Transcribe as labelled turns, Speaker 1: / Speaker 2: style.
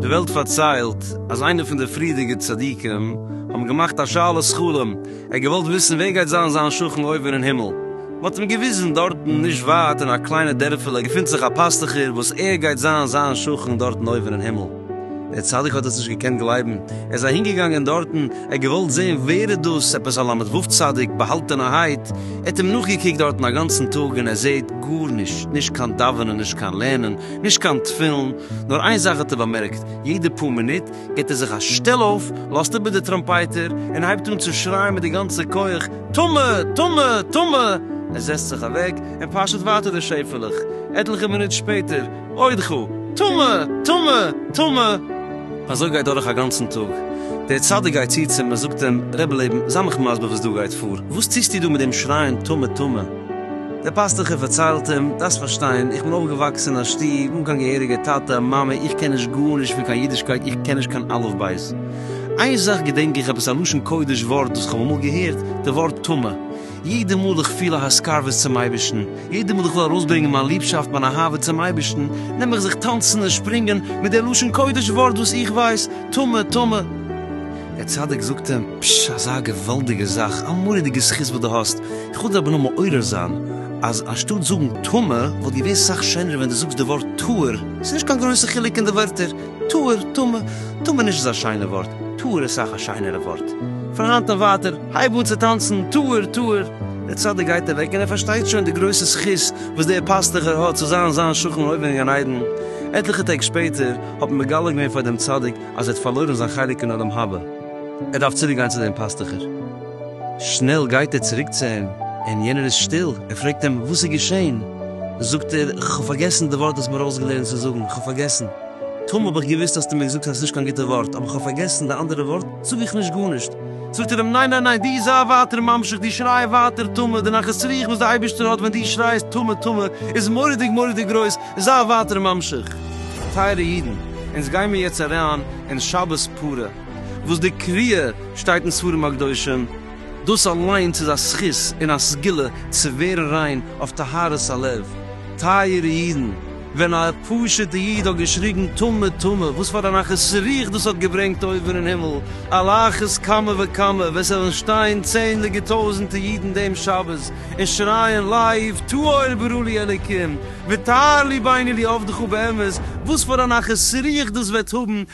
Speaker 1: די וועלט פארציילט אז איינע פון די פריערדיגע צדיקים האבן געמאכט א שאלת חלום, ער האט געוואלט וויסן ווער גייט זיין זיין שכן אויבן אין הימל, מען האט אים געוויזן דארטן נישט ווייט אין א קליינע דערפעלע געפינט זיך א פאסטוכער וואס ער גייט זיין זיין שכן דארטן אויבן אין הימל. דער צדיק האט עס נישט געקענט גלייבן, ער איז אהינגעגאנגען דארטן, ער האט געוואלט זען ווער איז דאס, עפעס א ל' ו' צדיק, באהאלטענערהייט, ער האט אים נאכגעקוקט דארטן א גאנצן טאג און ער זעט גארנישט, נישט קיין דאווענען, נישט קיין לערנען, נישט קיין תפילין, נאר איין זאך האט ער באמערקט, יעדע פאר מינוט גיבט ער זיך א שטעל אויף, לאזט איבער די טראמפייטער און הייבט אן צו שרייען מיט די גאנצע כח, טמא! טמא! טמא! ער זעצט זיך אוועק און פאשעט ווייטער די שעפעלעך, עטליכע מינוט שפעטער. עוד חו! טמא! טמא! טמא! אזוי גייט דורך א גאנצן טאג, דער צדיק גייט צו צום און זאגט אים, רבי לעבן, זיי מיך מסביר וואס דא גייט פאר, וואס טוסטו דא מיט דעם שרייען טמא! טמא! דער פאסטוכער פארציילט אים, דארפסט פארשטיין, איך בין אויפגעוואקסן אין א שטוב אן קיין געהעריגע טאטע און מאמע, איך קען נישט גארנישט פון קיין אידישקייט, איך קען נישט קיין אלף בית. איין זאך געדענק איך, עפעס א לשון קודש ווארט וואס איך האב אמאל געהערט, די ווארט טמא. יעדע מאל איך פיל א הסקרבות צום אייבערשטן, יעדע מאל איך וויל ארויסברענגען מיין ליבשאפט, מיין אהבה צום אייבערשטן, נעם איך זיך טאנצן און שפרינגען מיט דער לשון קודש ווארט וואס איך ווייס, טמא, טמא. דער צדיק זאגט אים, פשש, אזא געוואלדיגע זאך, א מורא'דיגע זכות וואס דו האסט, איך וויל דיר אבער נאר מעורר זיין, אז אנשטאט זאגן טמא, וואלט געווען סאך שענער ווען דו זאגסט די ווארט טהור, ס'איז נישט קיין גרויסע חילוק אין די ווערטער, טהור, טמא, טמא נישט אזא שיינע ווארט, טהור איז סאך א שיינערע ווארט. פון היינט און ווייטער. הייב אן צו טאנצן, טהור, טהור! דער צדיק גייט אוועק און ער פארשטייט שוין די גרויסע זכות וואס דער פאסטוכער האט צו זיין זיין שכן אין אויבן אין גן עדן. עטליכע טעג שפעטער האט מען מגלה געווען פאר דעם צדיק אז ער האט פארלוירן זיין חלק אין עולם הבא. ער דארף צוריק גיין צו דעם פאסטוכער. שנעל גייט ער צוריק צו אים, און יענער איז שטיל. ער פרעגט אים, וואס איז געשען? זאגט ער, איך האב פארגעסן די ווארט דו האסט מיר אויסגעלערנט צו זאגן. איך האב פארגעסן. טאמער האב איך געוואוסט האסטו מיר געזאגט אז עס איז נישט קיין גוטע ווארט, אבער איך האב פארגעסן די אנדערע ווארט. זאג איך נישט גארנישט? זאגט ער אים, ניין ניין ניין, דו זיי ווייטער ממשיך, דו שריי ווייטער טמא, די נחת רוח וואס די אייבערשטער האט ווען דו שרייסט טמא טמא איז מורא'דיג מורא'דיג גרויס, זיי ווייטער ממשיך. טייערע אידן, אונז גיימיר יעצט אריין אין שבת פרה, וואס די קריאה שטייט אין ספרים הקדושים, דאס אליינס איז א זכות און א סגולה צו ווערן ריין אויף טהרת הלב, טייערע אידן, ווען א פשוטע איד האט געשריגן טמא טמא, וואס פאר א נחת רוח דאס האט געברענגט אויבן אין הימל, על אחת כמה וכמה ווען ס'וועלן שטיין צענדליגע טויזנטע אידן דעם שבת און שרייען לייוו טהור ברא לי אלוקים וטהר לי ביני לי עבדך באמת, וואס פאר א נחת רוח דאס וועט האבן